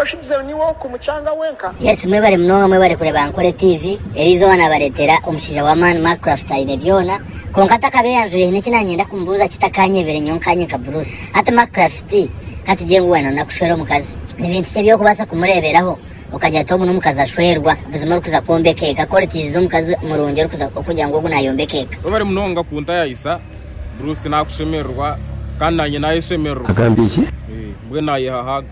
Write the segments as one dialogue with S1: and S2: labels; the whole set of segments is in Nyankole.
S1: Oshubizeho niwe oku mukyanga wenka. Yes mwebare munonga mwebare kureba Ankole TV, erizooba nabaretera omushaija wa maani Mark Craft aine byoona kwonka atakabaire yanjwire hiine eki nanyenda kumubuuza kitakanyebire nyowe nkanye nka Bruce hati Mark Craft katugye ngu wena nakushwera omukazi nibintu ki ebyokubaasa kumureeberaho okagira oti ogu nomukazi ashweerwa buzima orikuza kwombeka eka ku oritiizize omukazi murungi orikuza okugira ngu ogu nayombeka eka. Webare munonga kuntayayisa Bruce nakushemererwa kandi nanye nayeshemererwa mbwenu nayeha hug.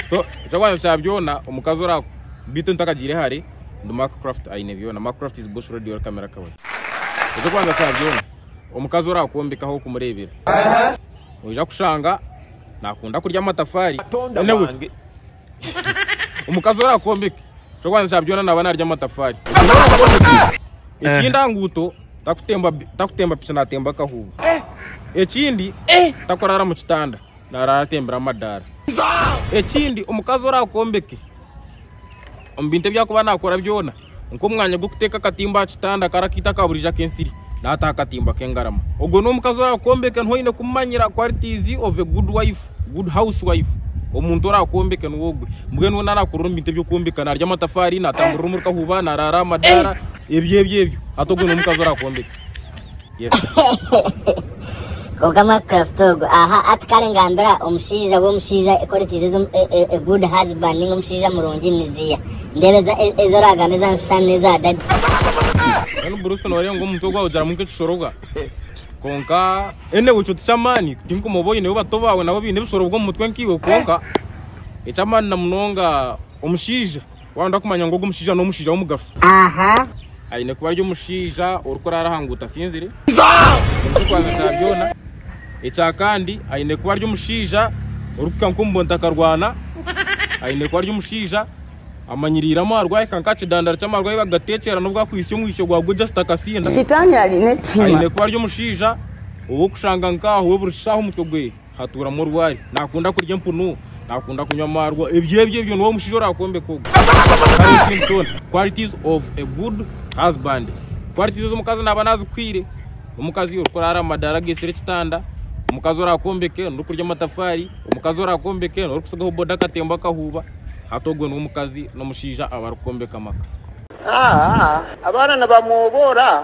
S1: so ekyokubanza kya byona omukazi ora bitu ntakagire hare ndi mark craft aine byona mark craft is bush radio or camera kawai ekyokubanza kya byona omukazi ora kwombekaho okumurebera oija kushanga nakunda kurya amatafari anyway omukazi ora kwombeka ekyokubanza kya byona naba narya amatafari ekindi aha nguuto takutemba takutemba piki natemba akahuuba ekindi takurara mu kitanda narara atembire amadaara. Ekindi omukazi orakombeke omu bintu ebi akuba nakora byona nk'omwanya gw'okuteka akatimba aha kitanda kari akaitu aka burijo ak'ensiri nataho akatimba k'engarama. Ogwo n'omukazi orakombeke niho oyine kumumanyira qualities of a good wife, good house wife. Omuntu orakombeke niwe ogwe. Mbwenu we narakurira omu bintu eby'okwombeka narya amatafaari, natamburira omuri kahuuba, narara aha madaara, ebyo ebyo ebyo. Hati ogwo n'omukazi orakombeke. Kwonka mwa craft ogu aha ati kare ngambira omushaija we omushaija qualities ezo e, e, a good husband ninga omushaija murungi niziya ndebeza e, ezo oragamba eza nshani neza daddy Then Bruce norenga omuntu ogwa ujaramu nk'ekishorobwa. Konka ene wicho tikyamani tinkumoba oyineyo bato bawe nabo bine ebishoro bw'omutwe nkiwe konka ekyamani na munonga omushaija Wayenda kumanya ngu ogu mushaija n'omushaija w'omugasho, aine kuba ari omushaija orikuraara aha nguuto asinzire, nikyo kubanza kya byona. Ekya kandi aine kuba ari omushaija orikuhika nk'omu buntu akarwana, aine kuba ari omushaija amanyiriire amarwa yahika nk'aha kidandari ky'amarwa ahu bagateekyera n'obu akwitsya omwitsyo gwa gwe just akasinda. Aine kuba ari omushaija ow'okushanga nk'aha we buri shaaha omutwe gwe. hatuuramu orwari nakunda kurya empunu nakunda kunywa amaarwa ebyo ebyo ebyo niwe omushaija orakwombeka ogwo qualities of a good husband qualities ez'omukazi naaba nazikwiire omukazi orikuraara mumadaara ageitsire ekitanda omukazi orakwombeke norikurya amatafaari omukazi orakwombeke norikutsigaho boda akatembo akahuuba hati ogwo niwe omukazi n'omushaija abarikwombeka amaka. Abaana nibamwoboora